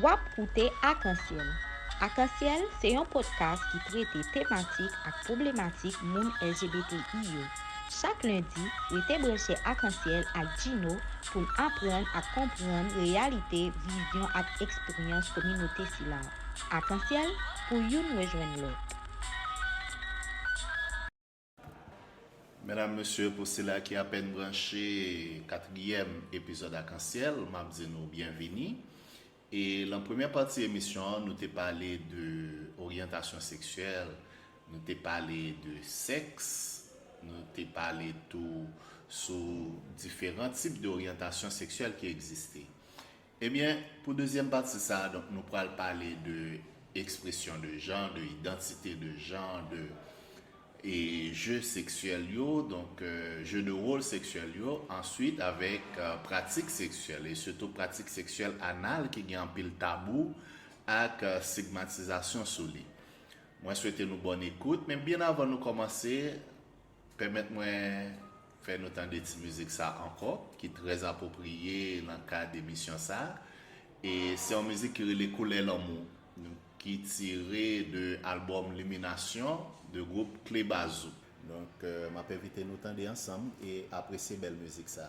Wap koute Akansyèl. Akansyèl se yon podcast ki trete tematik ak pwoblematik moun LGBTI yo. Chak lendi, rete branche Akansyèl ak Djino pou n aprann ak konprann reyalite, vizyon ak eksperyans kominote sila. Akansyèl, pou youn rejwenn lòt. Medam, mesye, pou sila ki apèn branche katriyèm epizòd Akansyèl, m ap di nou byenvini. E lan premyè pati emisyon an, nou te pale de oryantasyon seksyèl, nou te pale de sèks, nou te pale tou sou diferan tip de oryantasyon seksyèl ki egziste. Ebyen, pou dezyèm pati sa a, donk nou pral pale de ekspresyon de jan, de idantite de jan, de je seksyèl yo, donk je de wol seksyèl yo, answit avèk pratik seksyèl e sitou pratik seksyèl anal ki gen anpil tabou ak stigmatizasyon sou li. Mwen swete nou bòn ekout, men byen avan nou kòmanse, Pèmèt mwen fè nou tande ti mizik sa ankò ki trè apopriye nan kad emisyon sa. E se yon mizik ki rele Koulè Lanmou ki tire de albòm Liminasyon de gwoup Kle Bazou. Donk m ap envite nou tande ansanm e apresye bèl mizik sa.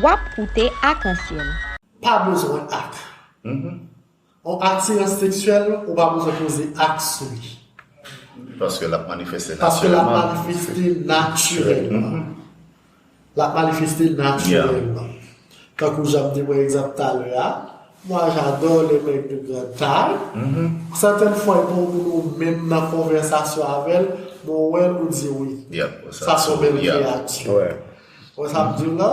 Wap koute akansyèl. Pa bezwen ak. On atirans seksyèl ou pa bezwen poze ak sou li. Paske lap manifeste natirèlman. Paske lap manifeste natirèlman. Lap manifeste natirèlman. Tankou janm te pran egzanp talè a. Moi j'adore les mecs de grande taille, certaines fois yon moun ou menm nan konvèsasyon avèl men ou wèl ou di wi sa son bèl kreyati wè sa m diw la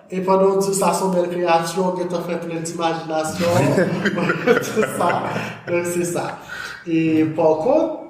e pandan ou diw sa son bèl kreyati ou gentan fè plen ti majinasyon tout sa donk se sa e pa kont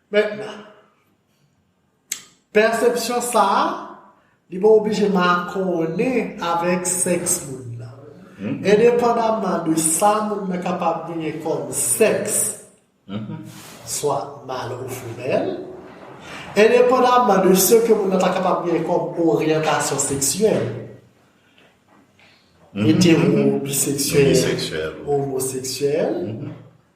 Mentnan, pèsepsyon sa a, li pa oblije makònen avèk sèks moun nan. Endepandamman de sa moun nan kapab genyen kòm sèks, swa mal ou femèl, endepandamman de se ke moun nan ta kapab genyen kòm oryantasyon seksyèl, etero, biseksyèl, omoseksyèl,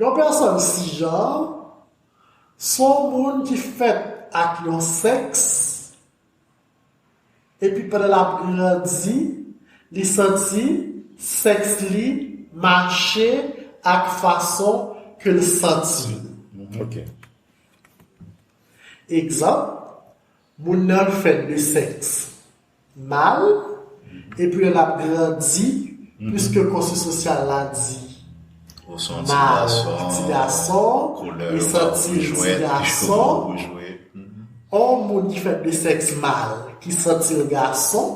Yon pèsòn sijan se yon moun ki fèt ak yon sèks epi pandan l ap grandi li santi sèks li mache ak fason ke l santi l. Egzanp, Moun nan fèt de sèks mal epi lè l ap grandi, piske konstwi sosyal la di mal ki ti gason, li santi l ti gason, yon moun ki fèt de sèks mal ki santi l gason,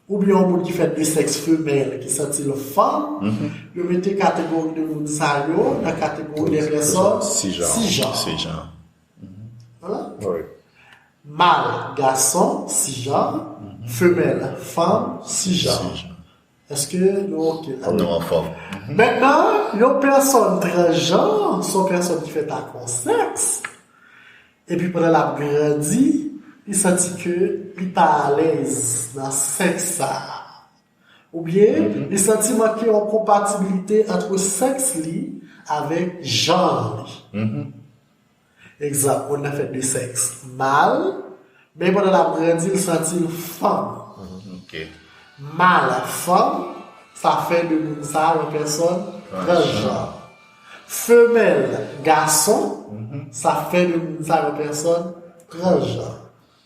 oubyen yon moun ki fèt de sèks femèl ki santi l fanm, yo mete kategori de moun sa yo nan kategori de pèsòn sijan. Mal, gason, sijan, femèl, fanm, sijan. Eske nou ok la? Nou anfòm. Mètnan, yon pèsòn transjan, se yon pèsòn ki fèt ak yon sèks, epi pandan l ap grandi, li santi ke li pa alèz nan sèks sa a. Oubyen, li santi manke yon konpatibilite antre sèks li avèk janr li. Egzanp, moun nan fèt de sèks mal, men pandan l ap grandi l santi l fanm. Mal ak fanm, sa fè de moun sa a yon pèsòn transjanr. Femèl, gason, sa fè de moun sa a yon pèsòn transjanr.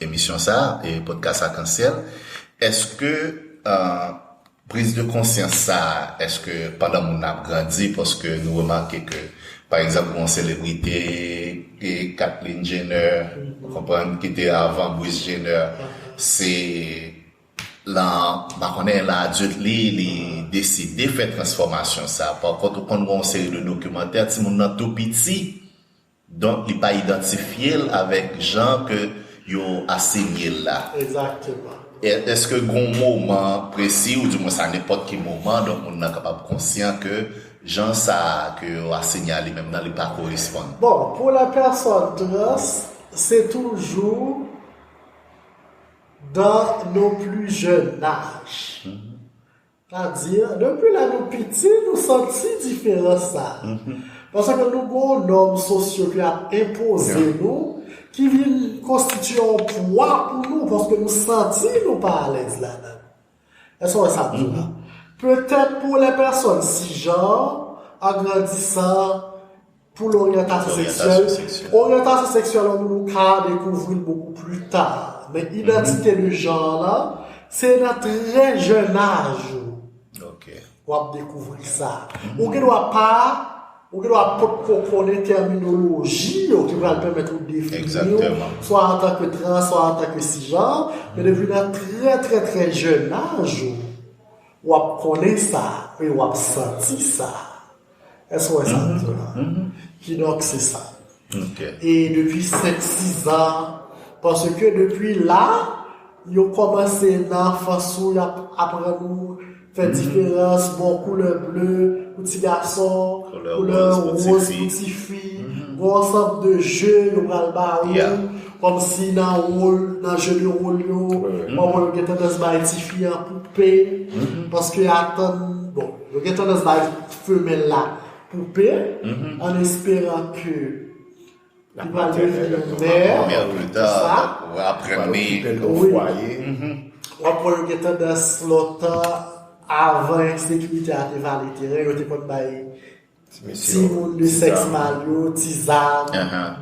Emisyon sa, podcast Akansyèl, eske prise de conscience sa, eske pandan moun nan ap grandi, paske nou remake ke, pa egzanp, gon selebrite, e Kathleen Jenner, ou konprann, ki te avan Bruce Jenner, se lan, pa konnen, lan adulte li, li deside fè transfòmasyon sa, pa kont ou konn gon seri de dokimantè, ti moun nan tou piti, Donk li pa idantifye l avèk jan ke yo asenye l la. Egzakteman. Eske gen yon moman presi ou di mwens a nenpòt ki moman donk moun nan kapab konsyan ke jan sa a ke yo asenye a li menm nan li pa koresponn? Bon, pou la pèsòn trans, se toujou dan non pli jèn naj. Ta di, depi lè nou piti nou santi diferans sa. Paske nou gen yon nòm sosyo ki ap enpoze nou, ki vin konstitye yon pwa pou nou, paske nou santi nou pa alèz ladan l. Èske w wè sa m di w la? Petèt pou lè pèsòn sijan an, an grandisan, Pou loryantasyon seksyèl, oryantasyon seksyèl an nou ka dekouvri l bokou pli ta. Men idantite de jan an la, se nan trè jèn aj ou w ap dekouvri sa. Ou gen dwa pa, ou gen dwa pot ko konnen tèminoloji yo ki pral pèmèt ou defini yo, swa an tanke trans, swa an tanke sijan, men depi nan trè trè trè jèn aj ou, w ap konnen sa e w ap santi sa. Èske ou wè sa mwen di w la? Kidonk, se sa. E depi senk, sizan, paske depi la, yo kòmanse nan anfans ou, y ap aprann ou fè diferans, bon, koulè ble pou ti gason, koulè wòz pou ti fi, gon ansanm de je yo pral ba ou, kòm si nan wòl, nan je de wòl yo, yo gen tandans bay ti fi an poupe, paske yo atann, bon. Yo gen tandans bay femèl la poupe an esperan ke li pral devni yon mè, tout sa. Ou ap wè yo gen tandans lontan avan ensekirite a te vale teren, yo te konn bay Ti moun de sèks mal yo, ti zam,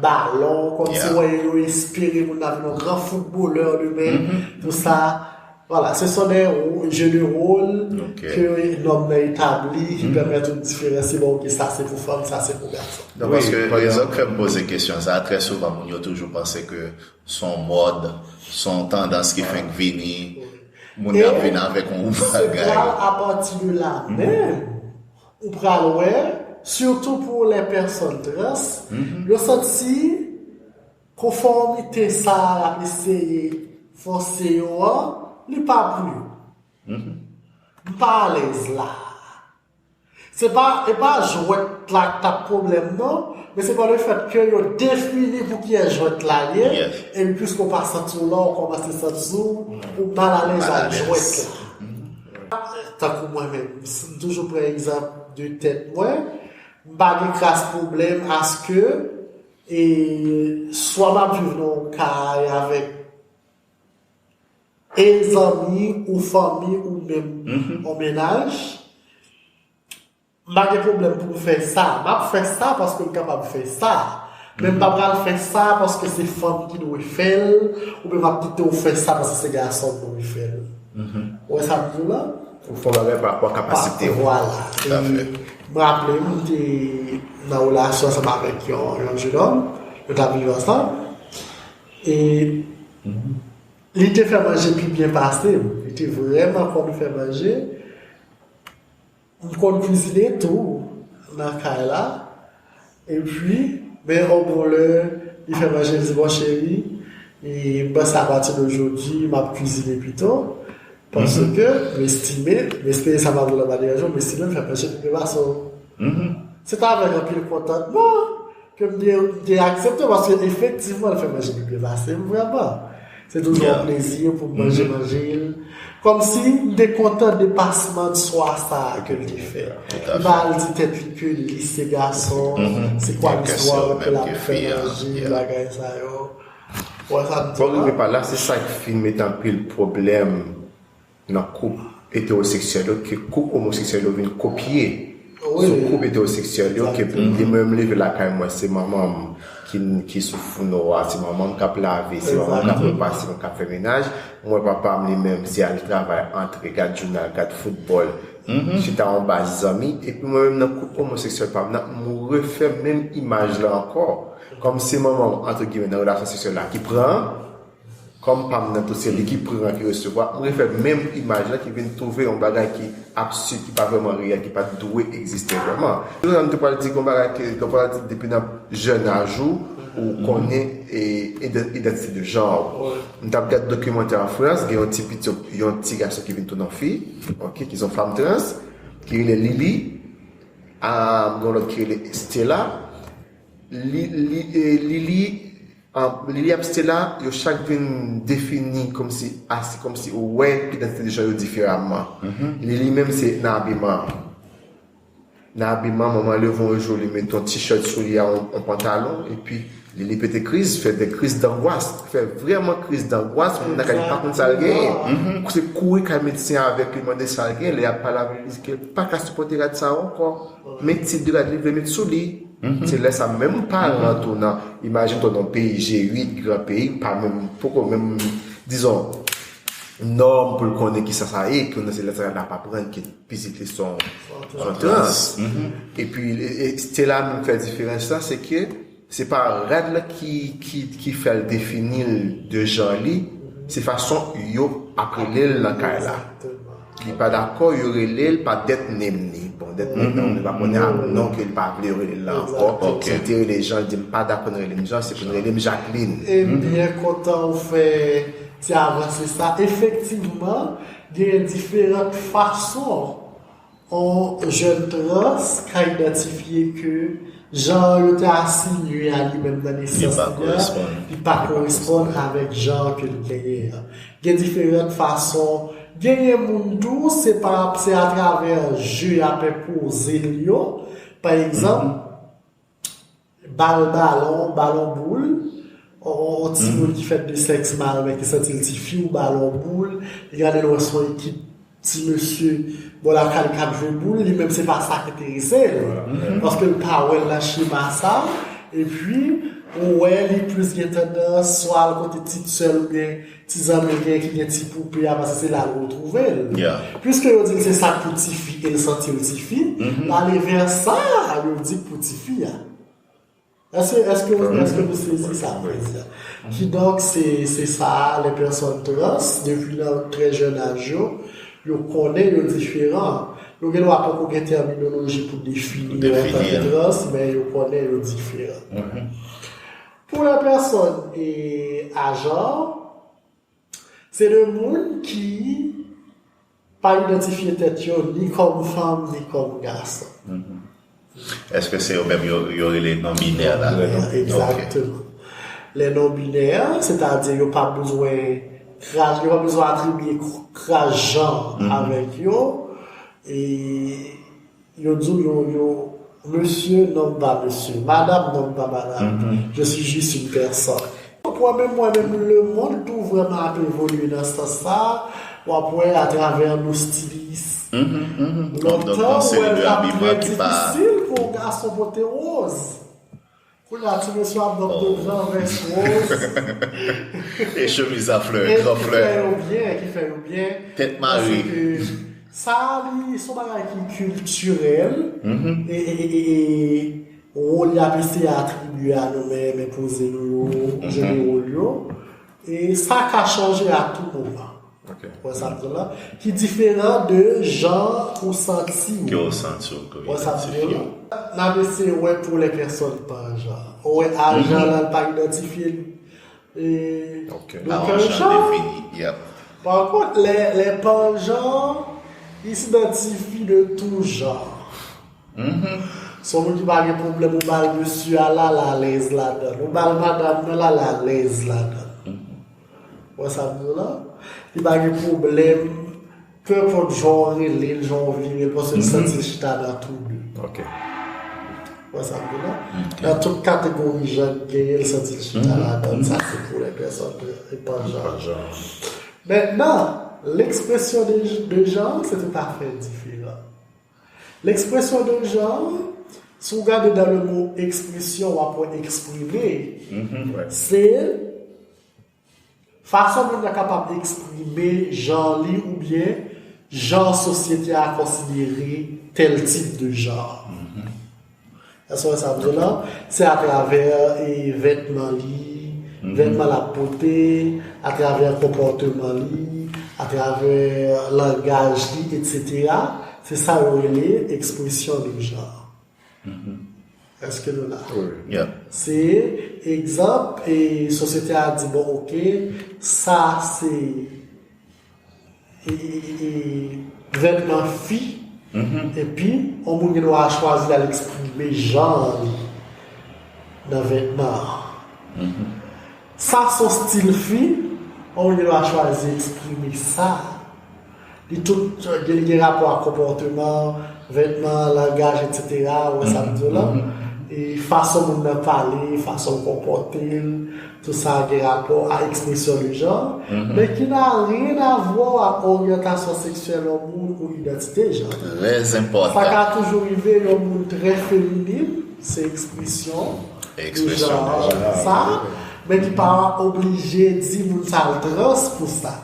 balon, kòm si wè yo yo espere moun nan vin yon gran foutbolè demen, tout sa, vwala, se son de je de wol ke nòm nan etabli ki pèmèt ou diferansye bon ok sa se pou fanm, sa se pou gason. Non, paske rezon k fè m poze kesyon sa, trè souvan moun yo toujou panse ke s on mòd, s on tandans ki fenk vini, moun nan ap vin avèk yon bagay. E se pral apati de la menm Ou pral wè, sitou pou lè pèsòn trans yo santi konfòmite sa a y ap eseye fòse yo an, li pa pou yo. M pa alèz la a. Se pa, e pa jwèt la k t ap pwoblèm nan, men se pa le fèt ke yo defini pou kiyès jwèt la ye, epi piske w pa santi w la, w kòmanse santi w ou mal alèz ak jwèt la. Tankou mwen menm, m toujou pran egzanp de tèt mwen, m pa gen kras pwoblèm aske e swa m ap viv nan yon kay avèk e zanmi ou fanmi ou menm yon mennaj, M pa gen pwoblèm pou m fè sa. M ap fè sa paske m kapab fè sa. Men m pa pral fè sa paske se fanm ki dwe fè l, oubyen m ap kite w fè sa paske se gason ki dwe fè l. Ou wè sa m di w la? Ou fè yon bagay pa rapò ak kapasite w. Vwala. E m raple m, m te nan relasyon ansanm avèk yon jenòm. Nou t ap viv ansanm. E li te fè manje pi byen pase m. Li te vrèman konn fè manje. M konn kizine tou nan kay la epi men yon bon lè li fè manje li di bon cheri m panse apati de jodi m ap kizine pito paske m estime m estime sa m ap di la pa deranj ou m estime m fè manje pi byen pase w se pa avèk anpil kontantman Ke m te aksepte paske efektivman l fè manje pi byen pase m vrèman. Se toujou yon plezi pou m manje manje l. Kòmsi m te kontan depasman de swa sa a ke l te fè. Li pa al di tèt li ke li se gason, se kwa listwa l ke l ap fè manje, bagay sa yo. Ou wè sa m di la? Bon, rive pa la, se sa ki fin met anpil pwoblèm nan koup etewoseksyèl yo ke koup omoseksyèl yo vin kopye sou koup etewoseksyèl yo ke pou mdi mwen leve lakay mwen se manman m ki sou founo a se manman m kap lave se manman m kap fè pa se mwen kap fè menaj m wè papa m li menm se al travay antre gad jounal gad foutbòl chita anba zanmi epi mwen menm nan koup omoseksyèl pa m nan m refè menm imaj la ankò kòm se manman m antre gimè nan relasyon seksyèl la ki pran Kòm pam nan tout se li ki pran ki resevwa, m refè menm imaj la ki vin twouve yon bagay ki absid, ki pa vrèman reyèl, ki pat dwe egziste vrèman. Tout sa m te pral di gon bagay ke yo pral di depi nan jèn aj ou, ou konnen idantite de janr ou. M tap gad dokimantè an Frans, gen yon ti piti, yon ti gason ki vin tounen yon fi, ok, ki son fanm trans, ki rele Lili, a gen yon lòt ki rele Estela, Lili, Lili. Liliam Stella yo chak vin defini kòmsi a se kòmsi ou wè idantite de jan yo diferaman. Lili menm se nan abiman an. Nan abiman manman leve yon jou li met yon t-shirt sou li a yon pantalon epi Lili pete kriz, fè de kriz dangwas, fè vrèman kriz dangwas, moun nan kay li pa konn sa l genyen. Se kouri kay medsen an avèk li mande sa l genyen, lè y ap pale avèk li li di ke li pa ka sipòte rad sa a ankò, men ti de rad li vle met sou li. Se lè sa menm paran an tou nan imajine toi nan peyi G8 gran peyi ki pa menm poko menm dizon nòm pou l konnen kisa sa ye pou nan se lè sa l ap aprann ke pitit li son an trans epi se la menm fè diferans la se ke se pa rad la ki fè l defini l de jan li se fason yo ap rele l nan kay la. Li pa dakò yo rele l pa death name li. Bon death name nan mwen pa konnen ak non ke l pa vle yo rele l la ankò. Si l te rele Jean l di m pa dakò nou rele m Jean se pou nou rele m Jacqueline. M byen kontan ou fè ti avanse sa. Efektivman genyen diferant fason on jèn trans ka idantifye ke jan yo te asinye a li menm nan nesans li a li pa koresponn avèk jan ke l genyen an. Gen diferant fason, genyen moun tou se pa se a travè je ya pe poze l yo, pa egzanp bal balon, balon boul, yon timoun ki fèt de sèks mal men ki santi l ti fi ou bal on boul, li gade l wè s on ekip Ti mesye bò lakay li kap jwe boul li menm se pa sa k enterese l paske l pa wè l nan chema sa epi ou wè li plis gen tandans swa al kote ti t sè l oubyen ti zanmi l gen ki gen ti poupe a paske se la l retwouve l piske yo di l se sa k pou tifi e l santi l tifi l ale vè sa yo di k pou tifi a. Èske nou sezi sa m vle di a? Kidonk, se sa a, lè pèsòn trans, depi nan trè jèn aj yo, yo konnen yo diferan. Yo gendwa poko gen tèminoloji pou defini yo antanke trans, men yo konnen yo diferan. Pou lè pèsòn ajan. Se de moun ki pa idantifye tèt yo ni kòm fanm ni kòm gason. Eske se yo menm yo rele non binè la? Egzakteman. Lè non binè, sètadi yo pa bezwen yo pa bezwen atribye kras janr avèk yo e Yo di w yo yo mesye nonm pa mesye, madam nonm pa madam, je suis juste une personne. Wap wè menm mwen menm lemond tou vrèman ap evolye nan sans sa, wap wè atravè nou stiliyis. Lontan ou wè l tap trè difisil pou yon gason pote woz. Kounya ti mesye ap banm de gran vès rose e chemiz a flè gran flè e ki fè yo byen ki fè yo byen tèt mare sa li son bagay ki kiltirèl e wòl yap eseye atribye a nou men men poze nou yo jwe wòl yo e sa ka chanje a tou moman. Wè sa m di w la? Ki diferan de jan ou santi w. Ke w santi w ke w idantifye w. N ap eseye wè pou lè pèsòn pa jan. Ou wè a jan la l pa idantifye l. Ok. A w jan defini. Yep. Pa kont lè lè pa jan, li s'idantifi de tou jan. Son moun ki pa gen pwoblèm ou ba l mesye a l alalèz ladan l. Ou ba l madam nan l alalèz ladan l. Wè sa m di w la? Li pa gen pwoblèm, peu importe jan w rele l, jan w vire l, paske l santi l chita nan tou de. Ok. Wè sa m di w la? Nan tout kategori jan k genyen, l santi l chita ladan l. Sa se pou lè pèsòn de epan jan. Mètnan, l ekspresyon de jan se tout afè diferan. L'expression de genre, si w gade dans le mot expression w ap wè eksprime se fason moun nan kapab eksprime jan li oubyen jan sosyete a konsidere tèl tip de jan. SOS Avzona, se atravè vètman li, vètman lap pote, atravè konpòteman li, atravè langaj li etc. Se sa yo rele ekspresyon de jan. Eske nou la? Wi. Se egzanp, sosyete a di bon ok, sa se. Vètman fi, epi yon moun gen dwa chwazi l al eksprime janr li nan vètman an. Sa s on stil fi, yon moun gen dwa chwazi eksprime sa. Li tout gen rapò ak konpòteman, vètman, langaj etsetera, ou wè sa m di w la. Fason moun nan pale, fason l konpòte l. Tout sa a gen rapò a ekspresyon de jan, men ki nan anyen avwa ak oryantasyon seksyèl yon moun ou idantite de jan. Sa ka toujou rive yon moun trè feminin, se ekspresyon de jan sa, men ki pa oblije di moun sa l trans pou sa.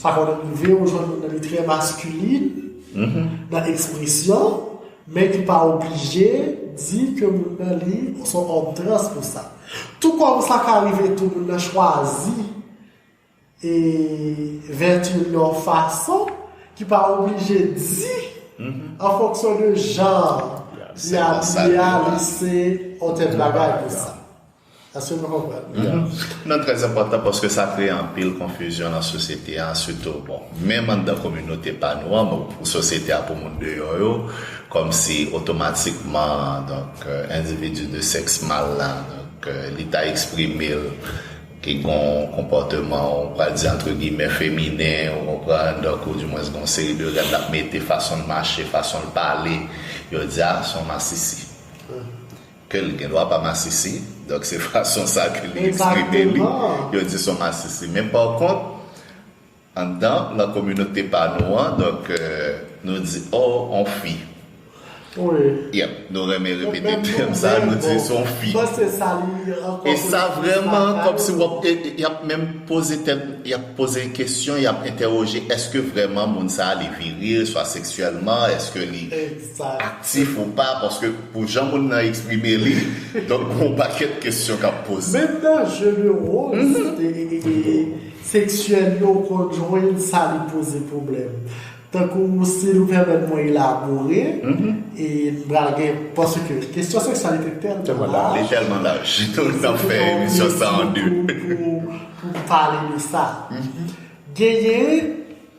Sa ka donk rive ou jwenn moun nan li trè maskulin nan ekspresyon men ki pa oblije di ke moun nan li se yon òm trans pou sa. Tou kòm sa ka rive tou moun nan chwazi e vèti l yon fason ki pa oblije di an fonksyon de jan li abiye a li se yon tèt bagay pou sa. Èske nou konprann? Ya. Nou trè enpòtan paske sa kreye anpil konfizyon nan sosyete a sitou bon menm anndan kominote pa nou an bon pou sosyete a pou moun deyò yo kòmsi otomatikman donk endividi de sèks mal la donk li ta eksprime l ke gon konpòteman ou pral di antre gimè feminen ou konprann donk ou di mwens gon seri de règ l ap mete fason l mache fason l pale yo di a s on masisi. Ke l gendwa pa masisi, donk se fason sa ke li eksprime li, yo di son masisi. Men pa kont, anndan nan kominote pa nou an, donk nou di o on fi. Yep, nou renmen repete tèm sa, nou di son fi. E sa vreman kom si wap, yap menm poze tèt, yap poze kesyon, yap entèwoje, eske vreman moun sa li viril, swa seksyèlman, eske li. sa aktif ou pa paske pou jan moun nan eksprime li donk gen yon pakèt kesyon kap poze. Menm nan jeu de role seksyèl yo ou konn jwenn sa li poze pwoblèm. Tankou si nou pèmèt mwen elabore e m pral gen paske kesyon seksyalite tèlman laj. Li tèlman laj. Nou ta fè emisyon sa an 2. Pou pale de sa. Genyen.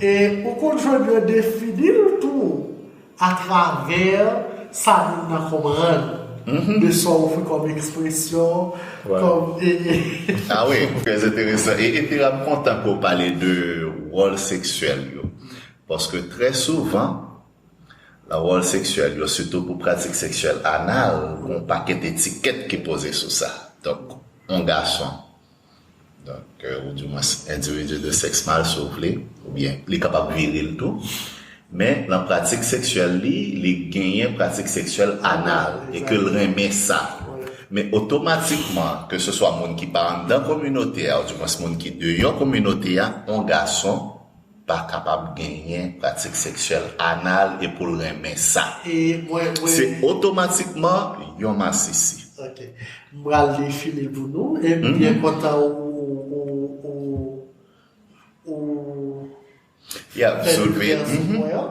E ou konn jodyo defini l tou atravè sa moun nan konprann de sa w ofri kòm ekspresyon, kòm e. A wi, trè enteresan. E epi la m kontan ke w pale de wòl seksyèl yo. Paske trè souvan, nan wòl seksyèl yo, sitou pou pratik seksyèl anal, gen yon pakèt etikèt ki poze sou sa. Donk, yon gason. Donk, ou di mwens endividi de sèks mal si w vle, oubyen li kapab viril tou. Men, nan pratik seksyèl li, li genyen pratik seksyèl anal e ke l renmen sa. Men, otomatikman, ke se swa moun ki pa anndan kominote a, ou di mwens moun ki deyò kominote a, on gason, pa kapab genyen pratik seksyèl anal e pou l renmen sa. Se otomatikman yon masisi. Ok. M pral defini l pou nou e m byen kontan ou fè diferans pou mwen an.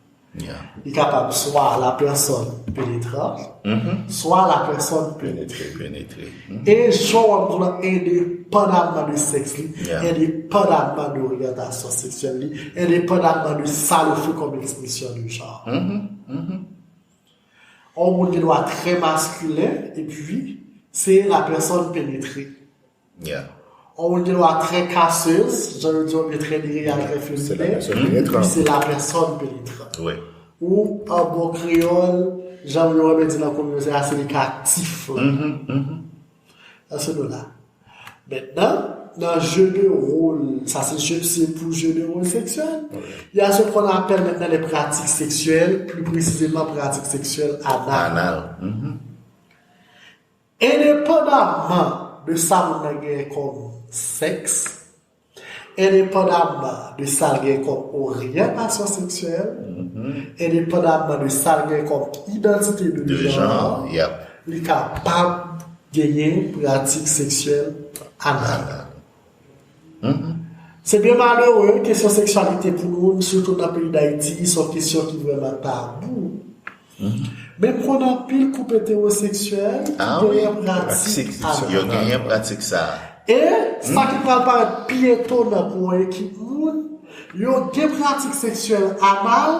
Li kapab swa la pèsòn penetran, swa la pèsòn penetre. Penetre. E chwa w ap gen lan endepandaman de sèks li, endepandaman de oryantasyon seksyèl li, endepandaman de sa l ofri kòm ekspresyon de jan. On moun gen dwa trè maskilen epi se la pèsòn penetre. Yeah. Or ou gen lwa très casseuse, jan yo di anglais très dire ya très feu li ye. Et puis c'est la personne pénétrante. Oui. Ou an bon kreyòl, jan yo renmen di nan kominote a, se li ki aktif la. Nan se nou la. Mètnan, nan jeu de rôle, sa se jeu, se pou jeu de rôle sexuel, y a ce qu'on appelle maintenant les pratiques sexuelles, plus précisément pratique sexuelle anale. Anale. Endepandaman de sa moun nan genyen kòm sèks, endepandaman de sa l genyen kòm oryantasyon seksyèl, endepandaman de sa l genyen kòm idantite de janr, li kapab genyen pratik seksyèl anal. Se byen malere, kesyon seksyalite pou nou, sitou nan peyi Dayiti, se yon kesyon ki vrèman tabou. Men m konn anpil koup etewoseksyèl ki genyen pratik sa a. Yo genyen pratik sa a. E, sa ki pral parèt pi etonan pou yon ekip moun, yo gen pratik seksyèl anal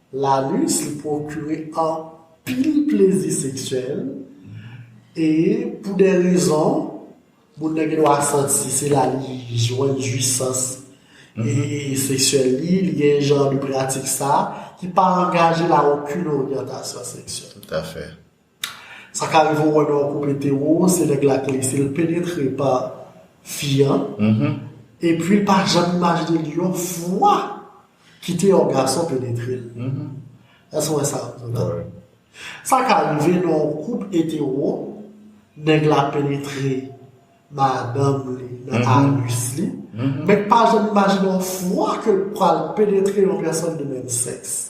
L'anus li pwokire anpil plezi seksyèl e pou de rezon, moun nan gen dwa santi se la li jwenn jwisans seksyèl li, li gen jan de pratik sa ki pa angaje l a okin oryantasyon seksyèl. Toutafè. Sa ka rive ou wè lè ou koupe Théo se nèg la ki lese l penetre pa fi an epi l pa janm imajine l yon fwa kite yon gason penetre l èske ou wè sa m di la sa ka rive nan yon koup etewo nèg la penetre madanm li nan anus li men l pa janm imajine yon fwa ke l pral penetre yon pèsòn de menm sèks.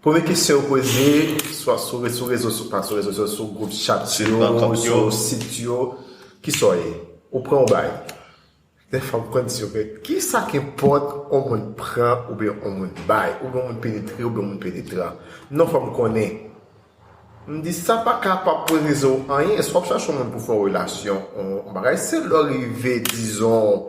Premye kesyon yo poze, swa sou rezo rezo sou pa sou rezo sou sou group chat yo, sou sit yo, ki sa w ye? Ou pran ou bay? Dè fwa m konn di yo men ki sa k enpòt on moun pran ou byen on moun bay? Ou byen on moun penetre ou byen on moun penetran? Non fò m konnen. M di sa pa ka pa pou rezo anyen, swa w chache on moun pou fè w relasyon, on bagay se lè w rive dizon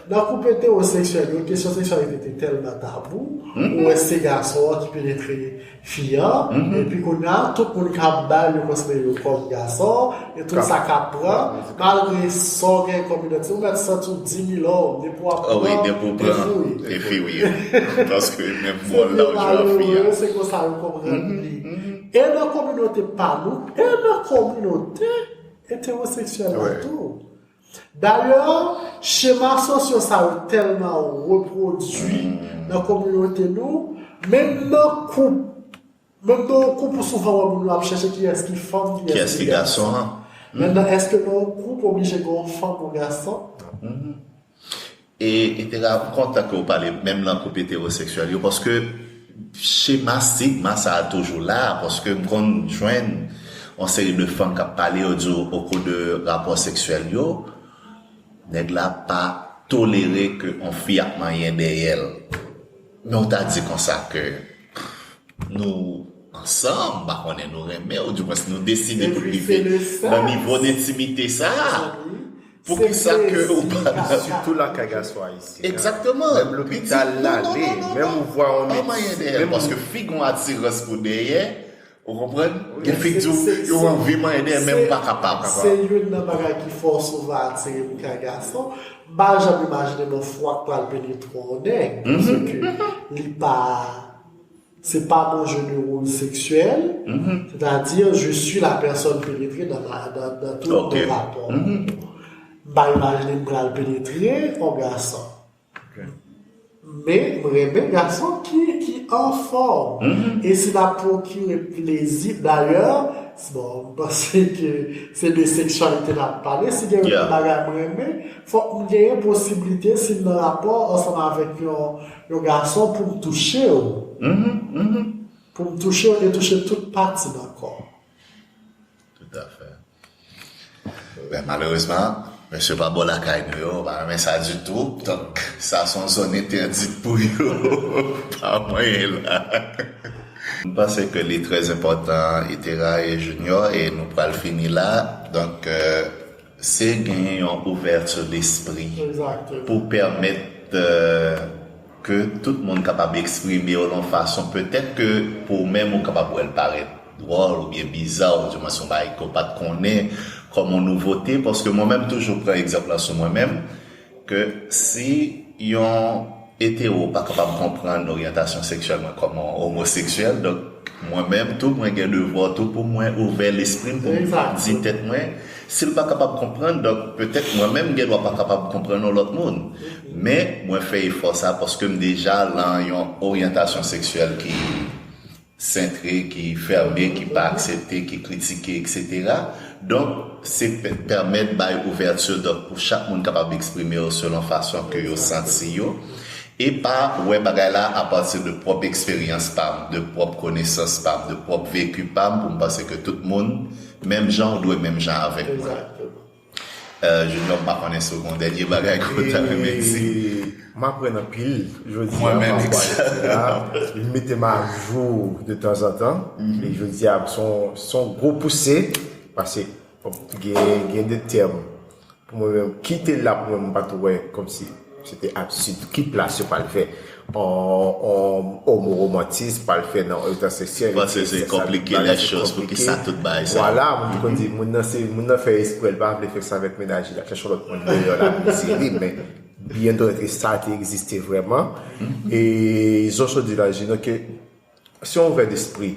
Nan koup etewoseksyèl yo, kesyon seksyalite te tèlman tabou, ou wè se gason an ki penetre fi an, epi kounya tout moun k ap bay yo konsidere yo kòm gason, e tout sa k ap pran, malgre sa w gen kòm idantite, ou mèt santi w dimilòm depi w ap pran, e fi w ye. Paske menm mòl la w jwe ak fi a. Se konsa yo konprann li. E nan kominote pa nou, e nan kominote etewoseksyèl la tou. Dayè, chema sosyo sa yo tèlman repwodui nan kominote nou, menm nan koup, menm nan yon koup ou souvan wè moun yo ap chèche kiyès ki fanm, kiyès ki gason. Mètnan èske nan yon koup oblije gen yon fanm, yon gason? E etera m kontan ke w pale menm lan koup eteroseksyèl yo paske chema stigma sa toujou la paske m konn jwenn yon seri de fanm kap pale yo di w okou de rapò seksyèl yo nèg la pa tolere ke yon fi ap manyen dèyè l men w ta di konsa ke nou ansanm m pa konnen nou renmen ou di mwens nou deside pou n rive nan nivo dentimite sa. Pou kisa ke ou pa nan. Sitou lakay gason ayisyen an. Ekzakteman. Menm lopital l ale, menm ou vwa yon medsè. An manyen dèyè l paske fig yon atirans pou dèyè, ou konprann? Gen fig di w, yo anvi manyen dèyè men yo pa kapab. Se youn nan bagay ki fè w souvan atire pou kay gason. M pa janm imajine m yon fwa k pral penetre w nèg, paske li pa. Se pa yon jeu de rôle sexuel, c'est-à-dire je suis la personne pénétrée dans tout nos rapports. M pa imagine m pral penetre yon gason. Men m renmen gason ki anfòm. E si n ap pwokire plezi, dayè, bon, m panse ke se de seksyalite n ap pale, si gen yon bagay m renmen, fòk m genyen posiblite si m nan rapò ansanm avèk yon. Yon gason poum touchew poum touchew e touche tout pati nan kò. Tout a fè. Ben malerezman mesye pa bò lakay nou yo pa renmen sa ditou donk sa son zòn entèdit pou yo pa mwayen la. M panse ke li trè enpòtan Itera e Junior e nou pral fini la donk. Se genyen yon ouverture d'esprit pou permet ke tout moun kapab exprime yo yon fason petèt ke pou ou menm ou kapab wèl parèt dwòl ou byen biza ou di mwen son bagay ke ou pat konnen kòm yon nouvote paske mwen menm toujou pran egzanp la sou mwen menm Ke si yon etero pa kapab konprann oryantasyon seksyèl mwen kòm yon omoseksyèl, donk mwen menm tou mwen gen devwa tou pou mwen ouvè lespri m, pou m di tèt mwen, si l pa kapab konprann, donk petèt mwen menm m gen dwa pa kapab konprann yon lòt moun. Men, mwen fè efò sa paske m deja lan yon oryantasyon seksyèl ki. sentre, ki fèmen, ki pa aksepte, ki kritike, eksetera. Donk, se pèmèt bay ouvèti donk pou chak moun kapab eksprime yo selon fason ke yo santi yo e pa wè bagay la a pati de pwòp eksperyans pa m, de pwòp konesans pa m, de pwòp veki pa m pou m panse ke tout moun menm jan ou dwe menm jan avèk mwen. Junior m pa konnen si w gon dènye bagay ke w ta renmen di. M aprann anpil jodi a pa rapò a lekti a. Li mete m ajou de tanzantan. E jodi a se yon gwo pouse pase gen de tèm pou mwen menm kite la pou mwen m pa tou wè kòmsi. Se te atitid ki plas yo pral fè yon omoromantis pral fè nan yon tan seksyèl. Ou panse se konplike lèchòz pou ki sa tout bagay sa. Vwala moun ki konn di moun nan se moun nan fè espre l pa vle fè sa avèk mennaj li l ap chèche yon lòt moun deyò la plezi li men byen dwèt e sa te egziste vrèman e zonson di nan je nou ke se yon ouvè despri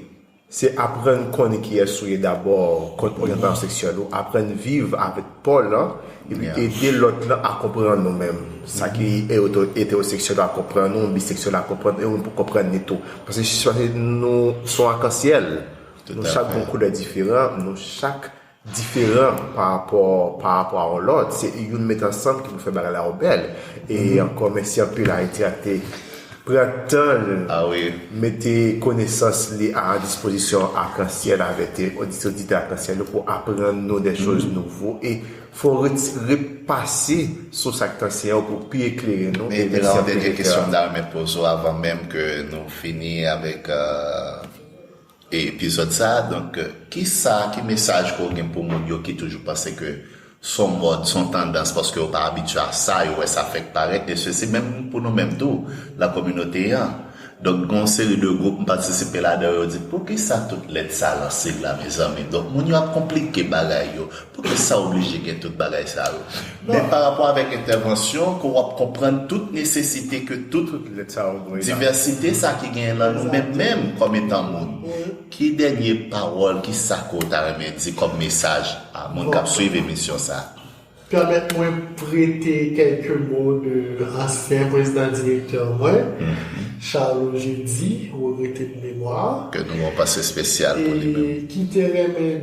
Se aprann konnen kiyès ou ye dabò, kont oryantasyon seksyèl ou, aprann viv avèk paw lan epi ede lòt lan a konprann ou menm. Sa ki etewoseksyèl la konprann ou, biseksyèl la konprann ou pou konprann li tou. Paske nou son akansyèl, nou chak gon koulè diferan, nou chak. diferan pa rapò pa rapò a yon lòt se youn met ansanm ki pou fè bagay la yo bèl e ankò mèsi anpil Haïti ak te pran tan l mete konesans li a dispozisyon Arc-en-Ciel avè te oditè oditè Arc-en-Ciel yo pou aprann nou dè choz nouvo e fò ret ret pase sou sa k t anseye yo pou pi eklere nou e mèsi anpil rektè. Mèt Elan gen kesyon m ta renmen poze w avan menm ke nou fini avèk. e epizòd sa donk kisa ki mesaj ke w gen pou moun yo ki toujou panse ke s on mòd s on tandans paske yo pa abitye a sa yo wè sa fèk parèt e sesi menm pou nou menm tou nan kominote an donk gen yon seri de gwoup m patisipe ladan yo yo di poukisa tout lèt sa lan sig la mezanmi donk moun yo ap konplike bagay yo Poukisa oblije gen tout bagay sa yo? Men pa rapò avèk entèvansyon ke w ap konprann tout nesesite ke tout divèsite sa ki genyen lan nou menm menm kòm etan moun. Ki dènye pawòl, ki sa ke w ta renmen di kòm mesaj a moun k ap swiv emisyon sa a? Pèmèt mwen prete kèlke mo de ansyen prezidan direktè mwen, Charlot Jeudi, regrete de memwa, Ke nou yon panse spesyal pou li menm. e ki te renmen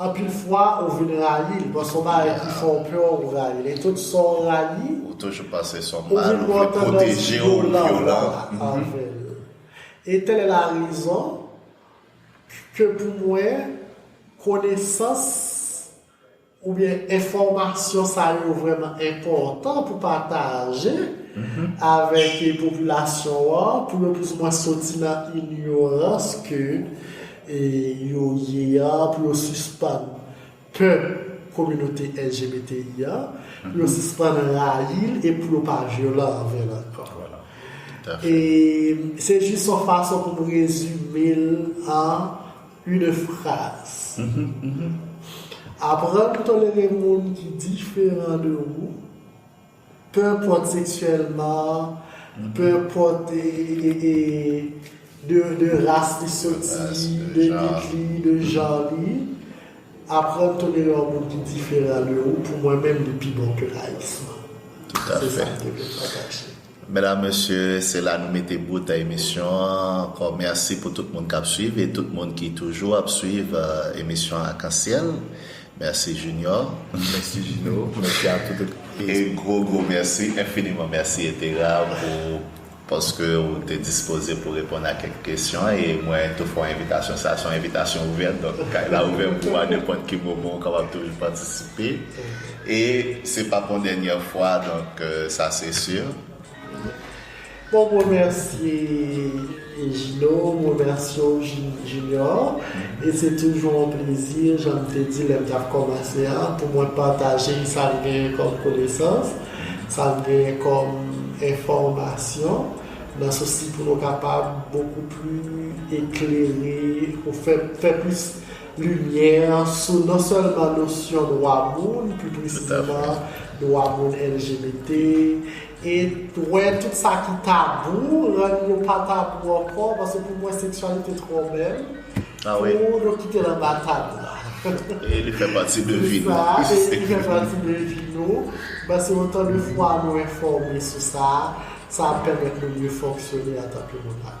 Anpil fwa ou vin rayi l. Bon son bagay ki fè w pè w ou rayi l. E tout sa w rayi. Ou toujou panse son mal. Ou vin gen yon tandans vyolan anvè l. E tèl è la rezon ke pou mwen konesans oubyen enfòmasyon sa yo vrèman enpòtan pou pataje avèk popilasyon an pou yo plis ou mwen soti nan inyorans ke e yo ye a pou yo sispann pè kominote LGBTI a, pou yo sispann rayi l e pou yo pa vyolan anvè l ankò. E se jis yon fason pou m rezime l an in fraz. Aprann tolere moun ki diferan de ou Pèpòt seksyèlman, pèpòt de ras li soti, de lit li, de jan li, aprann tolere yon moun ki diferan de ou pou mwen menm li pi bon ke rayisman. Se sa m te vle pataje. Medam, mesye, se la nou mete bout a emisyon an. Ankò mèsi pou tout moun k ap suiv e tout moun ki toujou ap suiv emisyon Arc-en-Ciel. Merci Junior, Merci Gino, Merci a tout ekip. E gwo gwo mèsi, enfiniman mèsi Etera pou paske ou te dispoze pou reponn a kèk kesyon e mwen tou fè w envitasyon sa se yon envitasyon ouvèt donk kay la ouvè pou ou a nenpòt ki moman ou kapab toujou patisipe e se pap yon dènyè fwa donk sa se sur. Bon m remèsye Jino, m remèsye w Junior e se toujou yon plezi jan m te di lè m t ap kòmanse a pou mwen pataje sa m genyen kòm konesans, sa m genyen kòm enfòmasyon nan sousi pou nou kapab bokou pli eklere pou fè plis limyè sou non sèlman nosyon dwa moun, pi presizeman dwa moun LGBT, et wè tout sa ki tabou, rann yo pa tabou ankò, paske pou mwen seksyalite twò bèl pou nou kite l anba tab la. E li fè pati de vi nou. Se sa, e li fè pati de vi nou, paske otan de fwa nou enfòme sou sa, sa ap pèmèt nou mye fonksyone antanke moun.